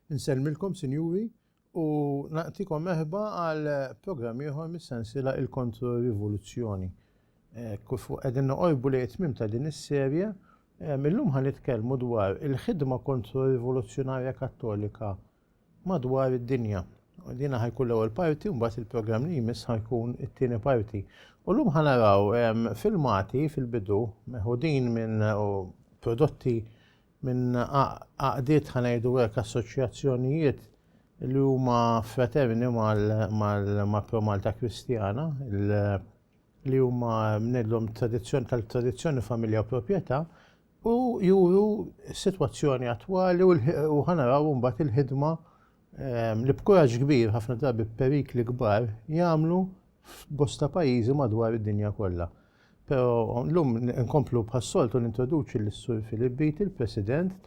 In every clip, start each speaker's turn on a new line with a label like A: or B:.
A: Nsellmilkom, sinjuri, u naqtikom meħba għal programm ieħor mis-sensila il-kontro-rivoluzzjoni. Eh, Kufu qegħdin noqorbu li jitmim ta' din is-serje Illum ħa nitkellmu dwar il-ħidma kontro-rivoluzzjonarja kattolika madwar id-dinja. Dina ħajkun l-ewwel parti, mbagħad il-programm li jmiss ħajkun it-tieni parti. U llum ħa naraw filmati fil-bidu meħudin minn prodotti minn għaqdiet ħanajdu hekk assoċjazzjonijiet li huma fraterni mal-Pro Malta Kristjana, li huma mnedlhom tradizzjoni tal-tradizzjoni, familja u proprjetà, u juru s-sitwazzjoni attwali u ħanaraw mbagħad il-ħidma ehm, li b'kuraġġ kbir ħafna drabi perikli kbar jagħmlu f'bosta pajjiżi madwar id-dinja kollha. Pero l-lum nkomplu bħas-soltu nintroduċi l-Sur Filip Bit, il-President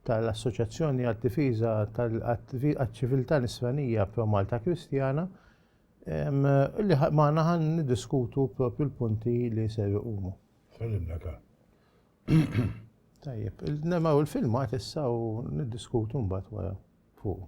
A: tal-Assoċjazzjoni għad-Difiża tal-Ċiviltà Nisranija Pro Malta Kristjana, Li magħna ħan niddiskutu propju l-punti li ser iqumu. Salimna ta'. Tajjeb, nemaw il-filmat issa u niddiskutu mbagħad wara fuq.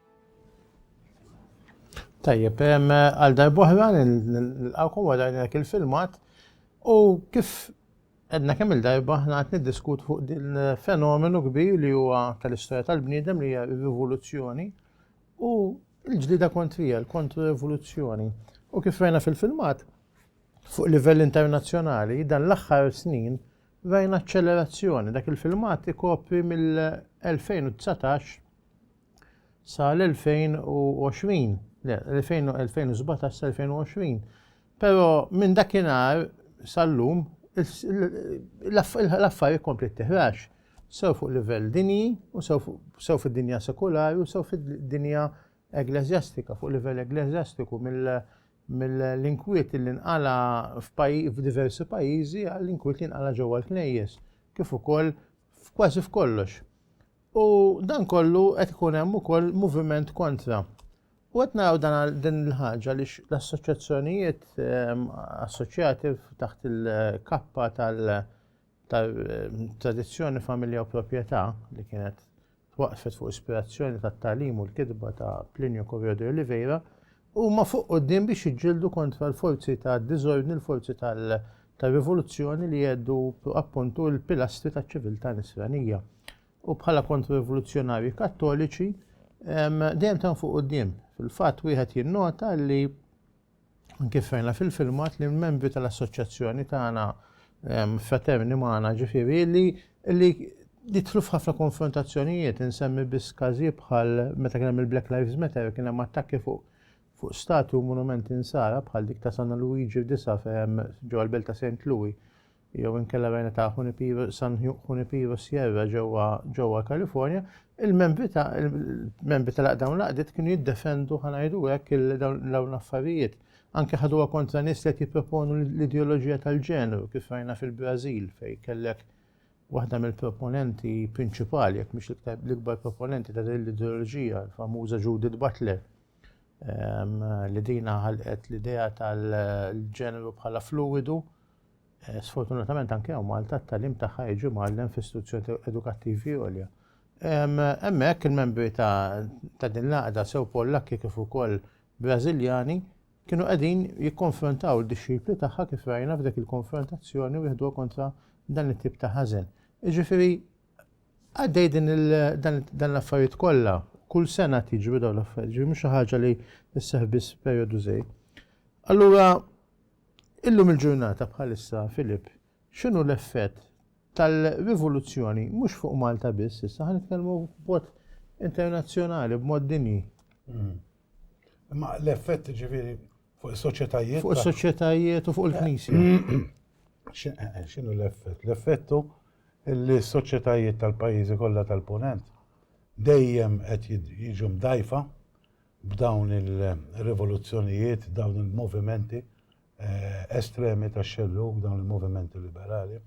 A: Tajjeb, għal darbohra nil-għawkom għadajna dak il-filmat u kif għedna kemm il-darba ħna għat niddiskut fuq din fenomenu kbir li huwa tal-istoria tal-bniedem li hija rivoluzzjoni u l-ġlida kontrija, l-kontru rivoluzzjoni. U kif rajna fil-filmat, fuq livell internazzjonali, dan l-axħar snin rajna accelerazzjoni. Dak il-filmat ikopri mill-2019 sa l-2020, le, 2017 sa 2020. Pero minn dakinhar sal-lum l-affarijiet kompli t-tihrax sew fuq livell dinji u sew fid-dinja sekulari u sew fid-dinja eglezjastika, fuq livell eglezjastiku mill-inkwiet li nqala f'diversi pajjiżi għall-inkwiet li nqala ġewwa l-knejjes, kif ukoll kważi f'kollox. U dan kollu qed ikun hemm ukoll moviment kontra. U qed naraw dan din il-ħaġa li l-assoċjazzjonijiet ehm, assoċjati taħt il-kappa tal-tradizzjoni ehm, familja u proprjetà li kienet twaqfet fuq ispirazzjoni tat-talim u l-kitba ta' Plinio Correo de Oliveira Huma fuq quddiem biex jiġġieldu kontra l-forzi tad-diżordni, l-forzi tar-rivoluzzjoni li jheddu appuntu l-pilastri taċ-ċiviltà Nisranija. U bħala kontra-rivoluzzjonarji Kattoliċi dejjem tan fuq quddiem. Fil-fatt wieħed jinnota li kif rajna fil-filmat li l-membri tal-assoċjazzjoni tagħna fraterni magħna ġifieri li li jidħlu f'ħafna konfrontazzjonijiet, insemmi biss każijiet bħal meta kien hemm il-Black Lives Matter, kien hemm attakki fuq fuq statu u monumenti nsara bħal dik ta' San Luigi f'disa fejn ġewwa l-belt ta' St. Louis jew inkella rajna ta' Junipero, San Junipero Sierra ġewwa ġewwa Kalifornja, il-membri ta' il-membri tal dawn l-għaqdiet kienu jiddefendu ħanajdu hekk dawn l-affarijiet Anke ħaduha kontra nies li qed jipproponu l-ideoloġija tal-ġeneru kif rajna fil-Brażil fejn kellek waħda mill-proponenti prinċipali jekk mhix l-ikbar proponenti ta' din l-ideoloġija, l-famuża Judith Butler Ehm, li dina ħalqet l-idea tal-ġeneru bħala fluidu. Eh, sfortunatament anke hawn Malta t-talim tagħha jiġi mgħallem f'istituzzjoni edukattivi għolja. Ehm, hemmhekk il-membri ta' din l-għaqda sew Pollakki kif ukoll Brażiljani kienu qegħdin jikkonfrontaw id-dixxipli tagħha kif rajna f'dik il-konfrontazzjoni u jieħduha kontra dan it-tip ta' ħażen. Jiġifieri għaddej din dan l-affarijiet kollha, kull sena tiġru dawn l-affarijiet, ġifieri mhux xi ħaġa li tisseħ biss perjodu żejr. Allura illum il-ġurnata bħalissa Filip X'inhu l-effett tal-rivoluzzjoni mhux fuq Malta biss, issa ħa nitkellmu b'mod internazzjonali, b'mod dinji. Hmm.
B: Imma l-effett ġifieri fuq is-soċjetajiet. Fuq is-soċjetajiet
A: u fuq il-knisja. Eh,
B: x'inhu l-effett? L-effettu li s-soċjetajiet tal-pajjiżi kollha tal-punent dejjem qed jiġu mdajfa b'dawn il-rivoluzzjonijiet, dawn il-movimenti eh, estremi ta' xelluk dawn il-movimenti liberali.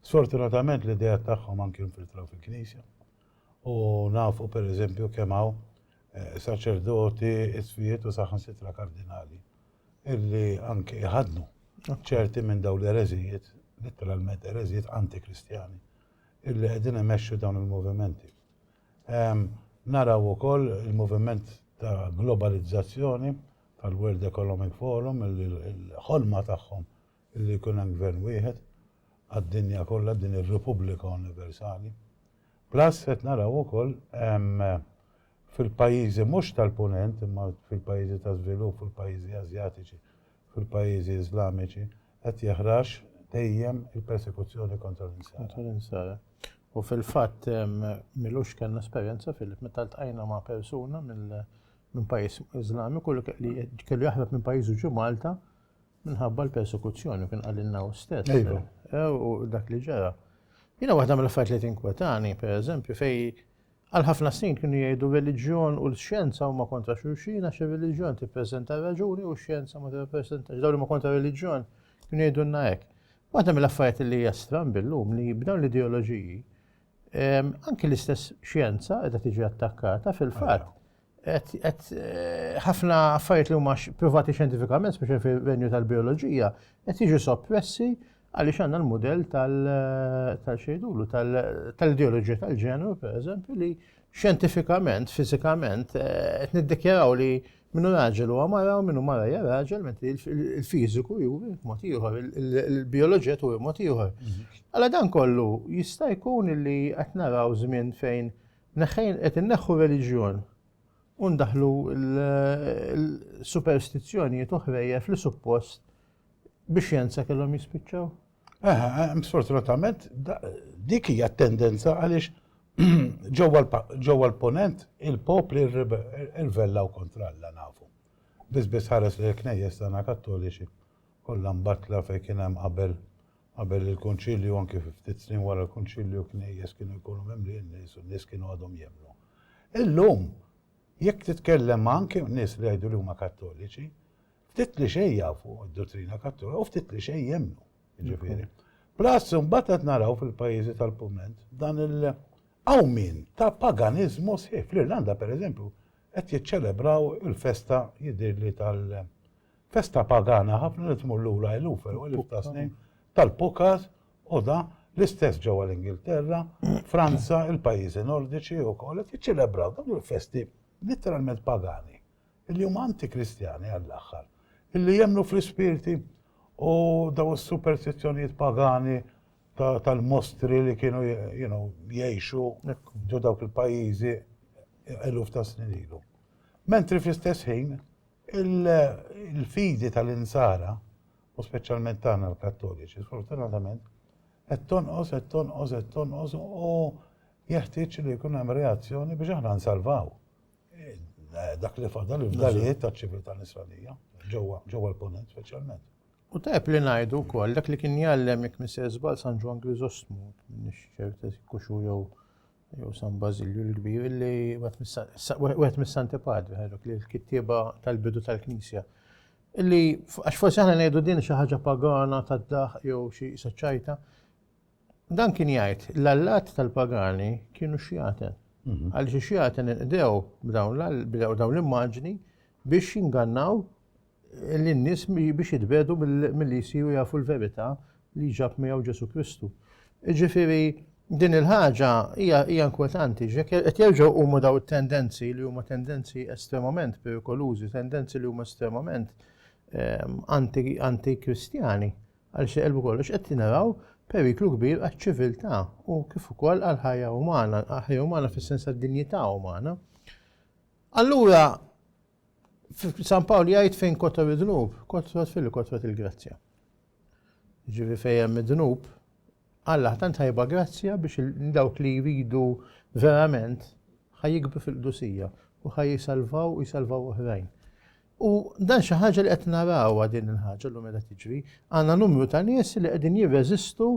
B: Sfortunatament l-idea tagħhom anki infiltraw fil-Knisja. U nafu per eżempju kemm hawn eh, saċerdoti, isfijiet u saħan sitra kardinali illi anki jħadnu ċerti minn dawn l-ereżijiet, literalment ereżijiet antikristjani, illi qegħdin imexxu dawn il-movimenti. Ehm, naraw ukoll il-moviment ta' globalizzazzjoni tal-World Economic Forum illi l-ħolma tagħhom illi jkun hemm gvern wieħed għad-dinja kollha din ir-Repubblika Universali. Plus qed naraw ukoll fil-pajjiżi mhux tal-Punent imma fil-pajjiżi ta' żvilupp, fil-pajjiżi Asjatiċi, fil-pajjiżi Iżlamiċi qed jeħrax dejjem il-persekuzzjoni kontra l-insara. Kontra l-insara. U fil-fatt milux kellna esperjenza fil meta ltqajna ma' persuna mill minn pajjiż Iżlamiku li li kellu jaħrab minn pajjiżu ġu Malta minħabba l-persekuzzjoni kien qalilna hu stess. Iva. Eh, u dak li ġara. Jiena waħda mill-affarijiet li tinkwetani, pereżempju, fej għal ħafna snin kienu jgħidu reliġjon u l-xjenza huma kontra xulxin għax ir-reliġjon tippreżenta raġuni u x-xjenza ma tippreżentax. Dawn huma kontra reliġjon kienu jgħidulna hekk. Waħda mill-affarijiet li hija strambi llum li b'dawn l-ideoloġiji Anki l-istess xjenza qiegħda tiġi attakkata fil-fatt qed eh, ħafna affarijiet li huma privati xjentifikament, speċi fil-venju tal-bioloġija, qed jiġu soppressi għaliex għandna l-modell eh, tal-xejdulu, tal-ideoloġija tal-ġeneru, per eżempju, li xjentifikament, fizikament, eh, qed niddikjaraw li Min hu
A: raġel huwa mara u min hu mara hija raġel, mentri il-fiżiku juri mod ieħor, il-bioloġija turi mod ieħor. Mhm. Alla dan kollu jista' jkun li qed naraw żmien fejn neħħejn qed inneħħu reliġjon u ndaħlu l-superstizzjonijiet oħrejja fl-suppost biex jenza kellhom jispiċċaw. Eh, eh,
B: sfortunatament, dik hija tendenza għaliex ġewwa l-ponent il-popli rvellaw kontra Alla nafu. Biss biss ħares li l-knejjes tagħna kattoliċi kollha mbatla fejn kien hemm qabel qabel il-kunċilju anki ftit snin wara l-kunċilju knejjes kienu jkunu mimli n-nies u n-nies kienu għadhom jemnu. Illum, jekk titkellem anki nies li jgħidu li huma kattoliċi, Ftit li xejn jafu d-dottrina kattolika u ftit li xejn jemnu, ġifieri. Plus, mbagħad qed naraw fil-pajjiżi tal-Pument dan il- hawn min ta' paganiżmu sħiħ. Fl-Irlanda, pereżempju, qed jiċċelebraw il-festa jidhirli tal- festa pagana ħafna li tmur lura eluf u eluf ta' snin tal-pukas u da l-istess ġewwa l-Ingilterra, Franza, il-pajjiżi Nordiċi wkoll qed jiċċelebraw dawn il-festi literalment pagani. Li huma anti-Kristjani għall-aħħar. Illi jemmnu fl-ispirti u daw is-superstizzjonijiet pagani tal-mostri li kienu jgħixu ġo dawk il-pajjiżi eluf ta' snin ilu. Mentri fl-istess ħin, il-fidi tal-insara, u speċjalment tagħna l-Kattoliċi, sfortunatament, qed tonqos, qed tonqos, qed tonqos u jeħtieġ li jkun hemm reazzjoni biex aħna nsalvaw. Dak li fadal il-fdalijiet ta' ċiviltà nisranija, ġewwa l-ponent speċjalment. U tajb li
A: ngħidu wkoll dak li kien jgħallem jekk misser żball San Ġwan Griżostmu, minix ċert kuxu jew jew San Bażilju l-kbir li wieħed mis-Santi Padri ħajrok li l-kittieba tal-bidu tal-Knisja. Illi għax forsi aħna ngħidu din xi ħaġa pagana tad-daħ jew xi saċċajta, Dan kien jgħid, l-allat tal-pagani kienu xjaten. Mhm. Għaliex ix-xjaten inqdew b'dawn dawn l-immaġni biex jingannaw l-nies biex jitbedu mill-li jsiru jafu l-verità li ġab miegħu Ġesu Kristu. Ġifieri, din il-ħaġa hija inkwetanti, qed jerġgħu huma daw it-tendenzi li huma tendenzi estremament perikolużi, tendenzi li huma estremament ehm, anti-Kristjani. Għaliex li qalb kollox qed naraw periklu kbir għaċ-ċiviltà u kif ukoll għall-ħajja umana, ħajja umana fis-sens tad-dinjità umana. Allura San Pawl jgħid fejn kotor id-dnub, kotrot fil kotrot il-grazzja. Ġivi fejn id-dnub, Alla tant ħajba grazzja biex dawk li jridu verament ħajjikbu fil-qdusija u ħaj jisalvaw u jisalvaw oħrajn. U dan xi ħaġa li qed narawha din il-ħaġa llum qiegħda tiġri, għandna numru ta' nies li qegħdin jirreżistu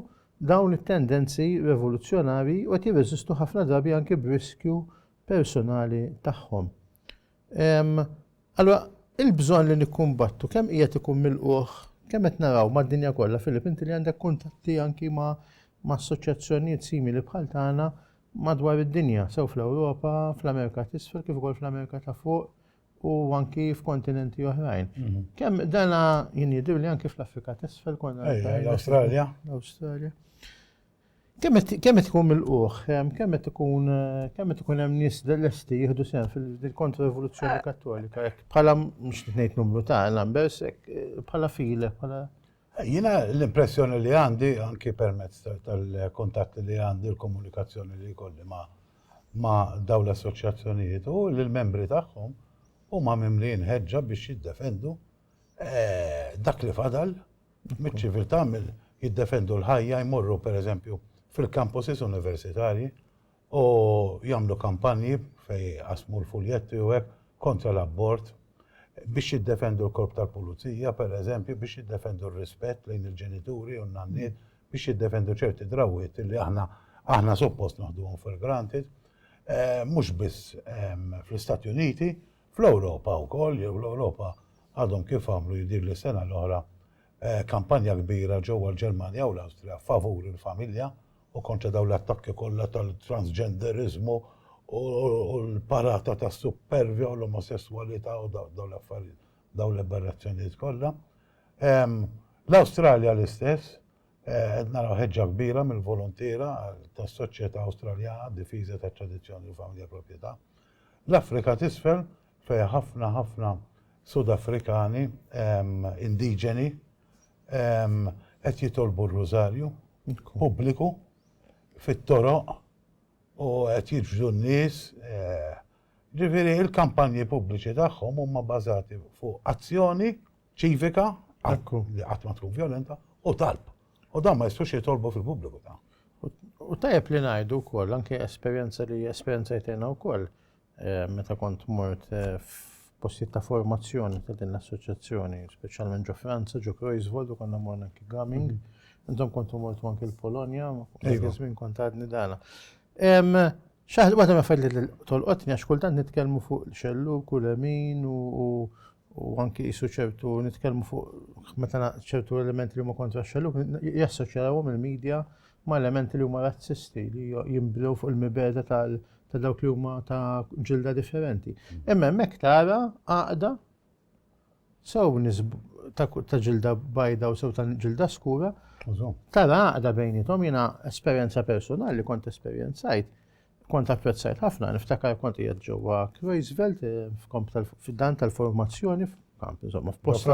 A: dawn it-tendenzi revoluzzjonari u qed jirreżistu ħafna drabi anke b'riskju personali tagħhom. Allura, il-bżonn li nikkumbattu kemm qiegħed ikun milquh, kemm qed naraw mad-dinja kollha, Filip, inti li għandek kuntatti anki ma' assoċjazzjonijiet simili bħal tagħna madwar id-dinja, sew fl-Ewropa, fl-Amerika t'isfel, kif ukoll fl-Amerika ta' fuq, u anki f'kontinenti oħrajn. Mhm. Kemm dana jien jidhir li anki fl-Afrika t'isfel konna. L-Awstralja.
B: L-Awstralja.
A: Kemm qed tkun mill-qoħ, kemm qed ikun kemm qed ikun hemm nies lesti jieħdu sehem fil-kontra-rivoluzzjoni eh. kattolika, bħala mhux ngħid numru ta' numbers, eh, bħala file, bħala Jiena
B: l-impressjoni li għandi, anki permezz tal-kuntatti li għandi, l-komunikazzjoni li jkolli ma' ma' dawn l-assoċjazzjonijiet hu li l-membri tagħhom huma mimlijin ħeġġa biex jiddefendu dak li fadal miċ-ċiviltà, jiddefendu l-ħajja, jmorru pereżempju fil-campuses universitarji U jagħmlu kampanji fejn jqassmu l-fuljetti u hekk kontra l-abort, biex jiddefendu l-korp tal-pulizija, pereżempju, biex jiddefendu r-rispett lejn il-ġenituri u n-nanniet, biex jiddefendu ċerti drawwiet li aħna aħna suppost naħduhom for granted. Mhux biss fl-Istati Uniti, fl-Ewropa wkoll, jew l-Ewropa għadhom kif għamlu jidhirli s-sena l-oħra kampanja kbira ġewwa l-Ġermanja u l-Awstrija favur il-familja u kontra dawn l-attakki kollha tal-transġenderiżmu u l-parata tas-suppervja u l-omosesswalità u dawn l-affarijiet, dawn l-aberrazzjonijiet kollha. L-Awstralja l-istess, qed naraw ħeġġa kbira mill-voluntiera tas-soċjetà Awstraljana għad-difiża tat-tradizzjoni u l-familja proprjetà. L-Afrika t'Isfel fejn ħafna ħafna Sud Afrikani indiġeni qed jitolbu r-Rużarju pubbliku fit-toroq u qed jiġbdu n-nies. Ġifieri l-kampanji pubbliċi tagħhom huma bbażati fuq azzjoni ċivika li qatt ma tkun vjolenta u talb. U dan ma jistgħux jitolbu fil-pubbliku. U tajjeb
A: li ngħidu wkoll anke esperjenza li esperjenzajt jiena wkoll meta kont mort f'postijiet ta' formazzjoni ta' din l-assoċjazzjoni, speċjalment ġo Franza, ġo Kreuzvold, u konna morna anki gaming. Intom kontu mortu anki l-Polonja, iva. minn kont għadni dana. Xaħġa, għata ma fadli tolqotni, għax kultant nitkelmu fuq xellu, kulemin u u anki jisu ċertu nitkellmu fuq meta ċertu elementi li huma kontra xelluk jassoċjawhom il-medja ma' elementi li huma razzisti li jimbdew fuq il-mibeda tal ta' dawk li huma ta' ġilda differenti. Imma hemmhekk tara għaqda sew ta' ġilda bajda u sew ta' ġilda skura. Tara għaqda bejnietom jiena esperjenza personali kont esperjenzajt Kont apprezzajt ħafna, niftakar kont qiegħed ġewwa Kreuzveld fid-dan tal-formazzjoni f'kamp, insomma, f'post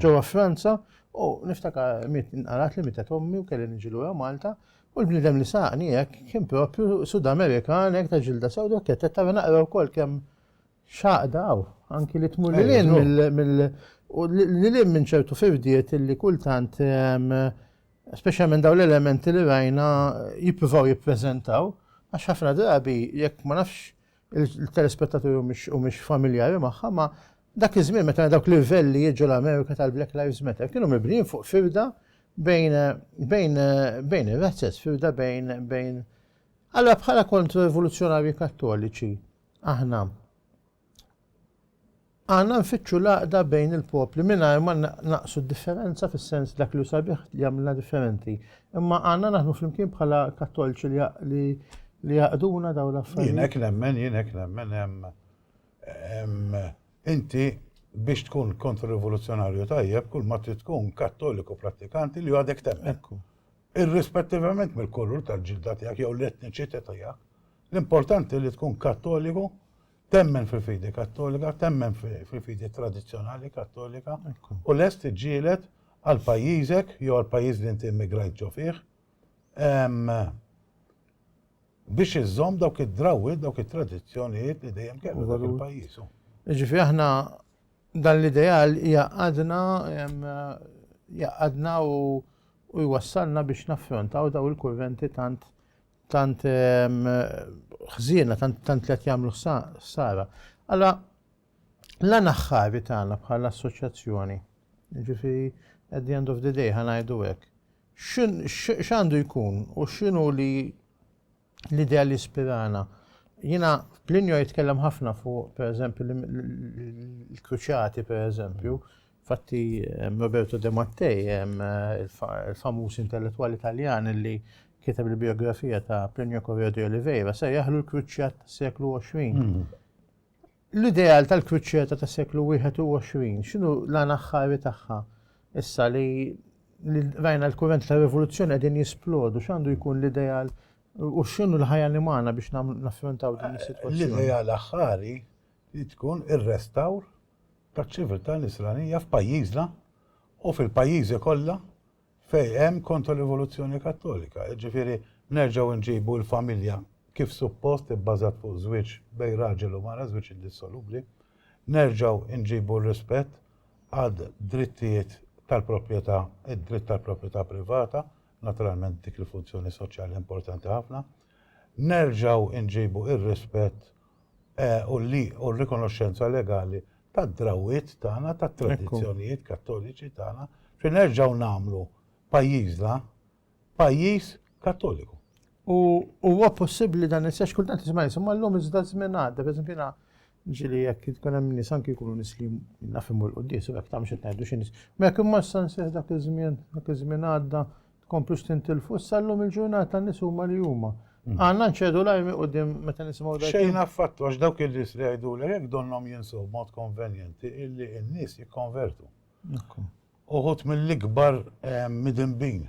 A: ġewwa Franza, u niftakar mit inqarat li mietet ommi u kelli niġi lura Malta, u l-bniedem li saqni hekk kien propju Sud Amerikan hekk ta' ġilda sewda u t-tetet tara naqra wkoll kemm X'għaqda hawn, anki li tmur lil hinn mill u lil hinn minn ċertu firdiet illi kultant speċjalment dawn l-elementi li rajna jippruvaw jippreżentaw għax ħafna drabi jekk ma nafx il-telespettaturi u mhix familjari magħha ma dak iż-żmien meta dawk l-irvelli jiġu l-Amerika tal-Black Lives Matter kienu mibnijin fuq firda bejn bejn bejn ir-razzez, firda bejn bejn Allora bħala kontro-rivoluzzjonarji kattoliċi, Aħna Aħna nfittxu l-għaqda bejn il-popli mingħajr ma naqsu d-differenza fis-sens dak li sabiħ li għamilna differenti. Imma għandna naħdmu flimkien bħala kattolċi li li jaqduna daw l-affarijiet. Jienek nemmen, jienek nemmen
B: hemm inti biex tkun kontrrivoluzzjonarju tajjeb kull ma trid tkun kattoliku prattikanti li għadek temmen. Irrispettivament mill-kulur tal-ġilda tiegħek jew l-etniċità tiegħek, L-importanti li tkun kattoliku, temmen fil-fidi kattolika, temmen fil-fidi tradizzjonali kattolika u lest tiġġieled għal pajjiżek jew għal pajjiż li inti immigrajt ġo fih biex iżżomm dawk id-drawwiet, dawk it-tradizzjonijiet li dejjem kellu dak il-pajjiż. Ġifi aħna
A: dan l-ideal jaqadna jaqadna u jwassalna biex naffrontaw daw il-kurventi tant tant ħżiena, tant li qed jagħmlu ħsara. Alla l-għan aħħari tagħna bħala assoċjazzjoni, ġifieri at the end of the day ħanajdu hekk. X'għandu jkun u x'inhu li l-idea li spirana. Jina, Plinio jitkellem ħafna fuq, per eżempju, l-kruċati, per eżempju, Infatti, Roberto De Mattei, il-famuż intellettwali Taljan li kiteb il-bijografija ta' Plinio Correo di Oliveira, sejjaħlu l-kruċjat tas-seklu 20. L-ideal tal-kruċjata tas-seklu 21, x'inhu l-għan aħħari tagħha? Issa li rajna l-kurrent ta' rivoluzzjoni qegħdin jisplodu, x'għandu jkun l-ideal u x'inhu l-ħajja li magħna biex naffrontaw din is-sitwazzjoni? L-ideal aħħari
B: li tkun ir-restawr taċ-ċiviltà Nisranija f'pajjiżna u fil-pajjiżi kollha fejn hemm Kontrarivoluzzjoni Kattolika. Jiġifieri nerġgħu nġibu l-familja kif suppost ibbażat fuq żwieġ bejn raġel u mara, żwieġ indissolubbli. Nerġgħu nġibu r-rispett għad drittijiet tal-proprjetà, id-dritt tal-proprjetà privata, naturalment dik il-funzjoni soċjali importanti ħafna. Nerġgħu nġibu r-rispett u r-rikonoxxenza legali tad-drawwiet tagħna, tat-tradizzjonijiet Kattoliċi tagħna, biex nerġgħu nagħmlu pajjiżna pajjiż Kattoliku. U
A: huwa possibbli dan issa għax kultant nisma' nies, imma llum iżda ż-żmien għadda, pereżempju jiena ġieli jekk tkun hemm nies anki jkunu nies li naf imur il-quddies u hekk ta' mhux qed ngħidu xi nies. Imma jekk imma issa nsejħ dak iż-żmien, dak iż-żmien għadda, Tkomplux tintilfu, issa llum il-ġurnata n-nies huma li huma. Għandna nċedu l-ajmi quddiem meta nisimgħu dak. Xejn affattu għax dawk
B: in-nies li jgħidulek hekk donnhom jinsew b'mod konvenjenti illi n-nies jikkonvertu. Uħud mill-ikbar midinbin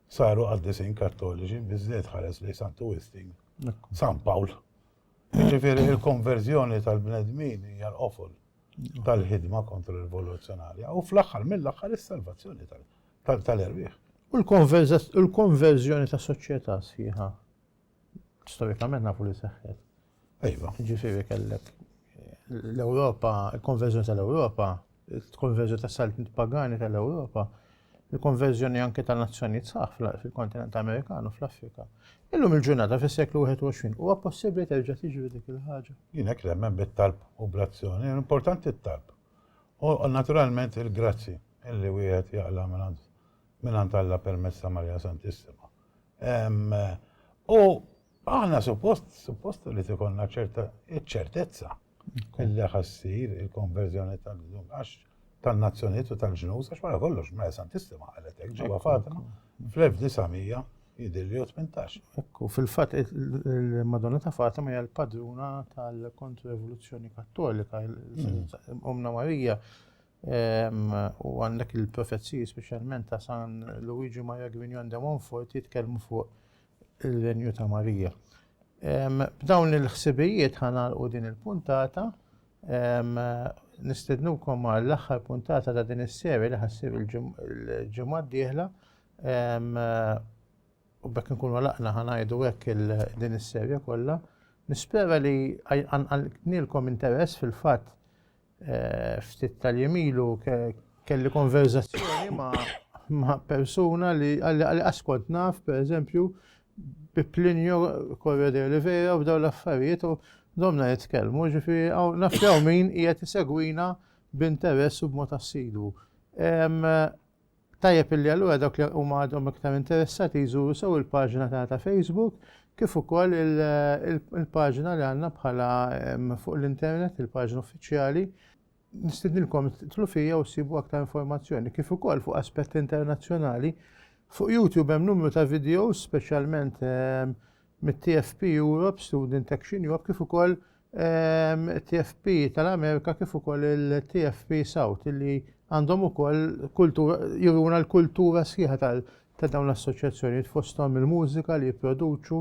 B: saru qaddisin Kattoliċi, biżżejjed tħares lejn Santu Wistin, San Pawl. Jiġifieri l-konverżjoni tal-bnedmin hija l-qofol tal-ħidma kontra rivoluzzjonarja u fl-aħħar mill-aħħar is-salvazzjoni tal-bnedmin. tal-erwieħ.
A: U l-konverżjoni ta' soċjetà sħiħa storikament nafu li seħħet. Ejwa,
B: ġifieri kellek
A: l-Ewropa, il-konverżjoni tal-Ewropa, il-konverżjoni tas-saltniet pagani tal-Ewropa, il-konverżjoni anke ta' nazzjonijiet saħ fil-kontinent Amerikanu fl-Afrika. Illum il-ġurnata fis-seklu 21 huwa possibbli terġa' tiġri dik il-ħaġa. Jien hekk nemmen
B: bit-talb u bl-azzjoni, importanti t-talb. U naturalment il-grazzi illi wieħed jaqla' mingħand mingħand Alla permezz ta' Marija Santissima. U aħna suppost suppost li tikollna ċerta ċertezza illi ħassir il-konverżjoni tal-lum għax tan-nazzjonijiet u tal-ġnus għax wara kollox Marija Santissima qalet hekk ġewwa Fatima fl-1900 Jidhirli hu tmintax. Hekk hu. Fil-fatt
A: il-Madonna ta' Fatima hija l-padruna tal-Kontro-Evoluzzjoni Kattolika, Ommna Marija ehm, u għandek il-profeziji speċjalment ta' San Luigi Maria Grignon de Montfort jitkellmu fuq il-renju ta' Marija. Ehm, b'dawn il-ħsibijiet ħanalqu din il-puntata ehm, nistednukom għall-aħħar puntata ta' din is-serja li ħassir il-ġimgħa d-dieħla U bekk nkunu għalaqna ħanajdu hekk din is-serja kollha. Nispera li nilkom interess fil-fatt eh, ftit tal-jemilu kelli konverzazzjoni ma' persuna li għalli askont naf, per eżempju, bi Plinio Corre de Oliveira u daw l-affarijiet u domna jitkellmu, ġifi għaw nafjaw min qiegħed isegwina b'interess u b'mod assidu. Tajjeb illi allura dawk li huma għadhom iktar interessati jżuru sew il-paġna tagħna ta' Facebook kif ukoll il-paġna li għandna bħala fuq l-internet, il-paġna uffiċjali. Nistidnilkom titlu fija u ssibu aktar informazzjoni kif ukoll fuq aspetti internazzjonali. Fuq YouTube hemm numru ta' videos speċjalment mit-TFP Europe, Student Action Europe, kif ukoll TFP tal-Amerika kif ukoll il-TFP South li għandhom ukoll kultura juruna l-kultura sħiħa ta' dawn l-assoċjazzjonijiet fosthom il-mużika li jipproduċu,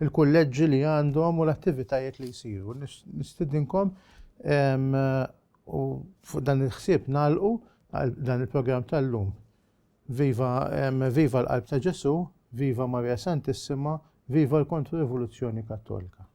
A: il-kulleġġi li għandhom u l-attivitajiet li jsiru. Nistidinkom u fuq dan il-ħsieb nagħlqu għal dan il-programm tal-lum. Viva, viva l-qalb ta' Ġesu, viva Maria Santissima, viva l-Kontro-Rivoluzzjoni Kattolika.